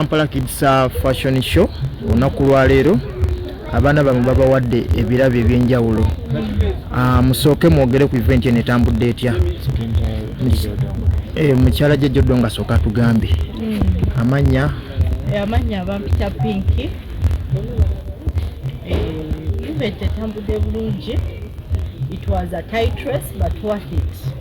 Kampala Kids Fashion Show olunaku lwaleero abaana bamwe babawadde ebirabo ebyenjawulo ah, musooke mwogere ku event eno etambudde etya eh, mukyala jejjodo nga sooka tugambe hmm. amannya eh, amannya bampita pinki eh, event etambudde bulungi it was a tight race but worth it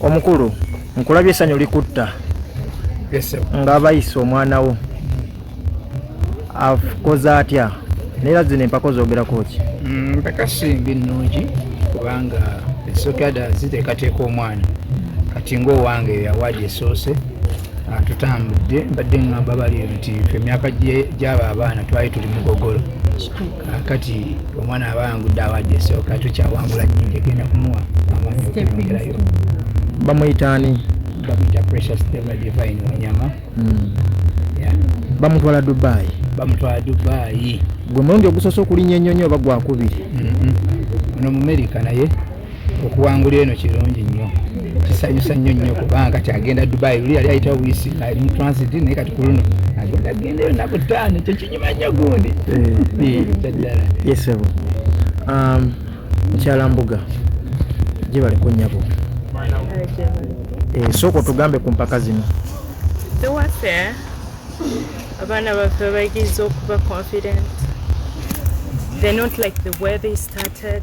omukulu nkulabye esanyu likutta nga bayisa omwana wo akoze atya naye zino empako zogerako ki mm, empaka simbi nnungi kubanga esokada ziteekateeka omwana kati ngaowange yawaadi esoose ah, tutambudde mbadde ngamba bali nti fe emyaka gyaba abaana twali tuli mugogolo kati omwana aba yangudde awadde esooka kyo kyawangula nyo egenda kumuwa amaanyi okumwongerayo bamuyita ani bamuyita precious dema divine wanyama hmm. bamutwala dubai bamutwala dubai gwe mulundi ogusoose okulinya enyonyi oba gwakubiri mm-hmm. ono mumerika naye okuwangula eno kirungi nnyo kisanyusa nnyo nnyo kubanga kati agenda dubai luli yali ayitawo buyisi ali mu transit naye kati kuluno agenda agendayo naku taano ekyo kinyuma nnyo gundi kyaddala eh. eh, yesebo um, mukyala mbuga gyebali ku nyabo eh, sooka otugambe ku mpaka zino ewaffe abaana baffe bayigiza okuba confident they not like the way they started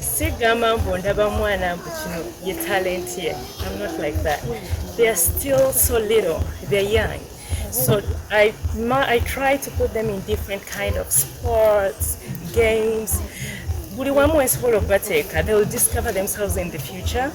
sigamba mbu ndaba mwana mbu kino ye talent ye im not like that they are still so little they're young so I, ma, I try to put them in different kind of sports games buli wamu wensobola okubateeka they will discover themselves in the future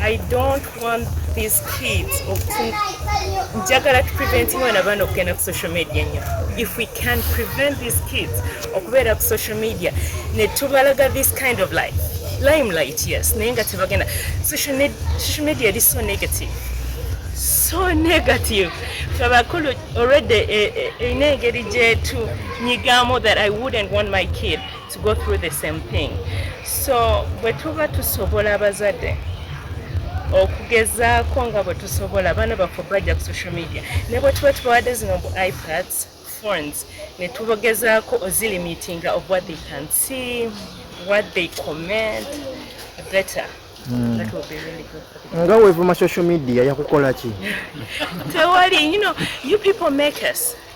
I don't want these kids of njagala to prevent mwana bana okugenda ku social media nyo if we can prevent these kids okubeera ku social media ne tubalaga this kind of life limelight yes naye nga tebagenda social media eri so negative so negative twabakulu already erina eh, eh, engeri gyetu nyigamu that i wouldn't want my kid to go through the same thing so bwe tuba tusobola abazadde okugezaako nga bwe tusobola abaana baffe bajja ku social media ne bwe tuba tubawadde zino bu ipads phones ne tubogezaako ozilimitinga of what they can see what they comment better Mm. That would be really good for them. Nga wevuma social media yakukola ki? Tewali, you know, you people make us.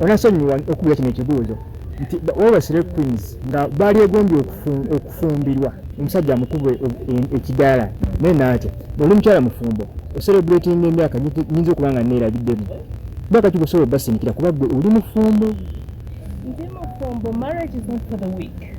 onasonyiwa hmm. okubira kino ekibuuzo nti webasire queens nga baali egombye okufumbirwa omusajja amukube ekidaala naye naatya oli mukyala mufumbo oserebratinga emyaka nyinza okuba nga neerabiddemu bakati gusobola obasindikira kuba gwe oli mufumbo ndi mufumbo marriage is not for the week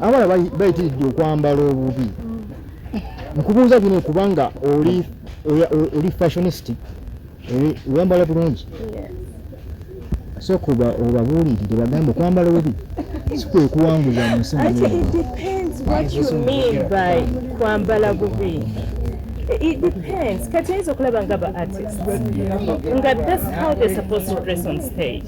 abala bayitiridde okwambala obubi nkubuuza bino kubanga oli oli fashionist eh, wambala bulungi sokuba obabuulirire bagambe okwambala obubi sikwekuwanguza mu nsi kwambala bubi it depends kati ayinza okulaba nga ba artist nga that's how they supposed to dress on stage